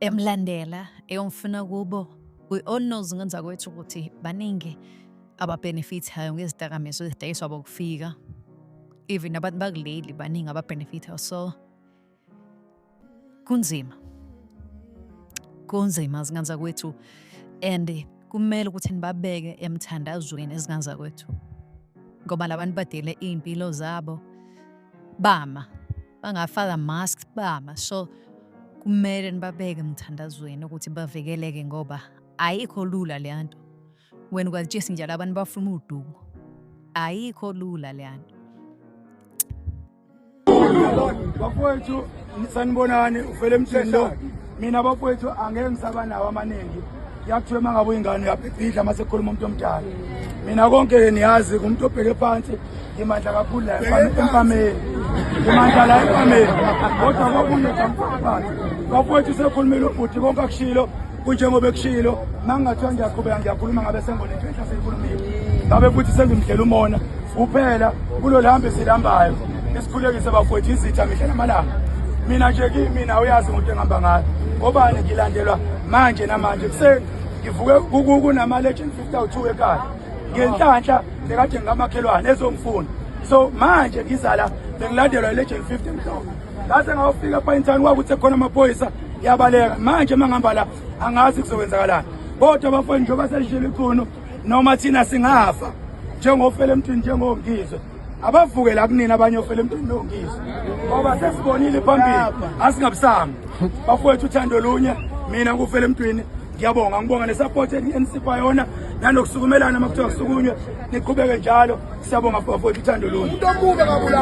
emlandela eyomfuna kubo we all knows ngenza kwethu ukuthi baningi ababhenefithayo ngezidakamizwa ezidayiswa bokufika even abantu bakuleli baningi ababhenefithayo so kunzima kunzima zingane zakwethu and kumele ukuthi nibabeke emthandazweni izingane zakwethu ngoba labantu badele iy'mpilo zabo bama bangafaka mask bama so kumele nibabeke emthandazweni ukuthi bavikeleke ngoba ayikho lula leya nto wena ukwazitshisa njalo abantu bafuna udumo ayikho lula leya nto bafowethu sanibonani ufele emthini lo mina bakwethu angeke ngisaba nawo amaningi yakuthiwa uma ngabe uyingane uyabhibhidla uma sekukhuluma umuntu omdala mina konke-ke niyazi kumuntu obheke phansi ngimandla kakhulu la empameni ngimandla la empameni kodwa kokunye kamfakazi bakwethu sekhulumile ubhuti konke akushilo kunjengoba ekushilo uma ngingathiwa ngiyaqhubeka ngiyakhuluma ngabe sengibona into enhla seyikhulumile ngabe futhi sengimdlela umona kuphela kulo lihambe silambayo Nisikhulekise bafowethu izitha mihla namalanga. Mina nje kimina uyazi umuntu engihamba ngayo. Ngobani ngilandelwa manje namanje kuseni ngivuke kunama legend 52 ekhaya. Ngenhlanhla nekade ngikamakhelwane ezongifuna. So manje ngizala bengilandelwa legend 50 mhlawumbe. Ngase ngawufika pha intani kwakuthi khona amaphoyisa yabaleka. Manje uma ngihamba la angazi kuzokwenzakalani. Kodwa bafowethu njengoba selishilo ikhunu noma thina singafa njengofele emthini njengongizwe abavuke la kunina abanye ofela emntwini nongizwe ngoba sesibonile phambili asingabusami bafowethu uthando lunye mina ngufela emntwini ngiyabonga ngibonga nesupport eNCP yona nanokusukumelana makuthiwa kusukunywe niqhubeke njalo siyabonga bafowethu uthando lunye